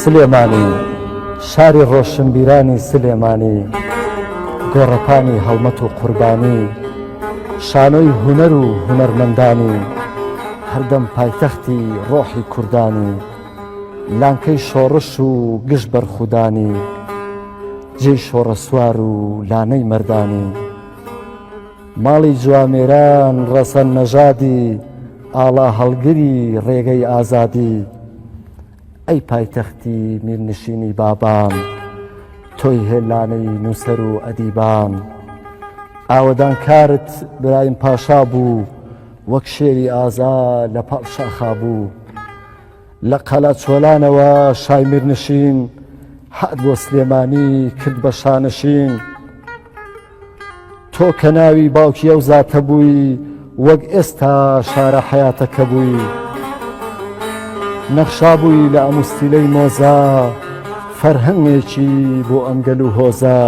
سلێمانی شاری ڕۆشنبیرانی سلێمانی گۆڕەپانی هەڵمەت و قوربانی شانۆی هوەر و هوەرمەندانی هەردەم پایتەختی ڕۆحی کوردانی لانکەی شۆڕش و گشت بەرخودانی جێی شۆڕە سوار و لانەی مردانی ماڵی جوامێران ڕەسەن نەژادی ئاڵا هەڵگری ڕێگەی ئازادی ئەی پایتەختی میرنشینی بابان تۆی هێلانەی نووسەر و ئەدیبان ئاوەدانکارت برایم پاشا بوو وەک شێری ئازا لە پاڵ شاخا بوو لە قەلا چۆلانەوە شای میرنشین هات بۆ سلێمانی کرد بە شانشین تۆ کە ناوی باوکی ئەو زاتە بووی وەک ئێستا شارە حەیاتەکە بووی نەخشابووی لە ئەموستیلەی مۆزە فەرهەنگێکی بۆ ئەمگەل و هۆزە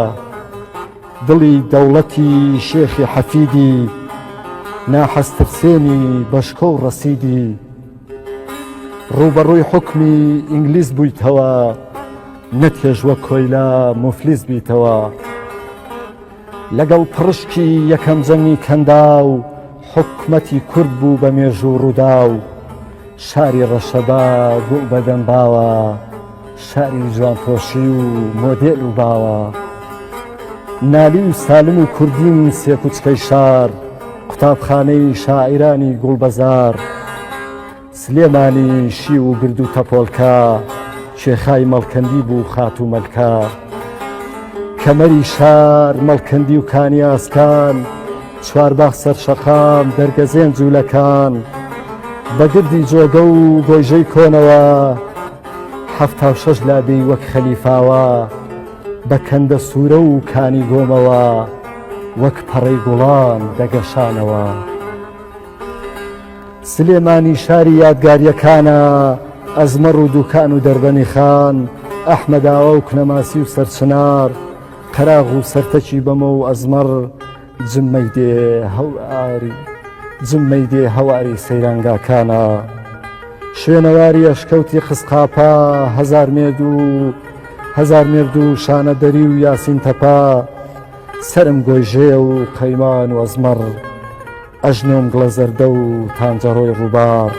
دڵی دەوڵەتی شێخی حەفیدی ناحەزترسێنی بەشکۆ و ڕەسیدی ڕووبەڕووی حوکمی ئینگلیز بوویتەوە نەتێژ وەک کۆیلە مفلیس بیتەوە لەگەڵ پڕشکی یەکەم جەنگی کەندا و حکومەتی کورد بوو بە مێژوو ڕوودا و شاری ڕەشەبا گوو بەدەم باوە شاری جوانپۆشی و مۆدێل و باوە نالی و سالم و کوردین سێ کوچکەی شار قوتابخانەی شاعیرانی گوڵبەزار سلێمانی شی و گرد و تەپۆلکە شێخای مەڵکەندی بوو خات و مەلکە کەمەری شار مەڵکەندی و کانیاسکان چوارباخ سەرشەقام دەرگەزێن جوولەکان بەگردی جۆگە و گۆژەی کۆنەوە حەفتا و شەش لادێی وەک خەلیفاوە بە کەندە سوورە و کانی گۆمەوە وەک پەڕەی گوڵان دەگەشانەوە. سلێمانی شاری یادگاریەکانە ئەزمەڕ و دووکان و دەربەنی خان ئەحمەداوە و کنەماسی و سەرچنار قەراغ و سەرتەکی بەمە و ئەزمەڕ جممەی دێ هەواری جممەی دێ هەواری سەیرانگاکانە شوێنەواری ئەشکەوتی خسقاپا هەزار مێرد و هەزار مێرد و شانەدەری و یاسین تەپا سرم گۆیژێ و قەیمان و ئەزمەڕ ئەژنۆم گڵە زەردە و تانجەڕۆی ڕووبار.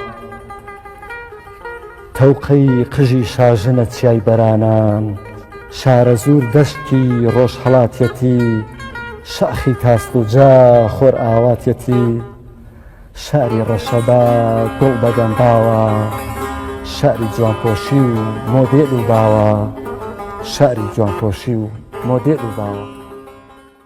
تەوقەی قژی شاژنە چیای بەرانان، شارەزوور دەشتی ڕۆژهەڵاتیەتی، شاخی تاسڵوجا خۆرئاواتیەتی، شاری ڕەشەبا گوڵ بەگەنباوە، شاری جوانپۆشی و مۆدێل و باوە.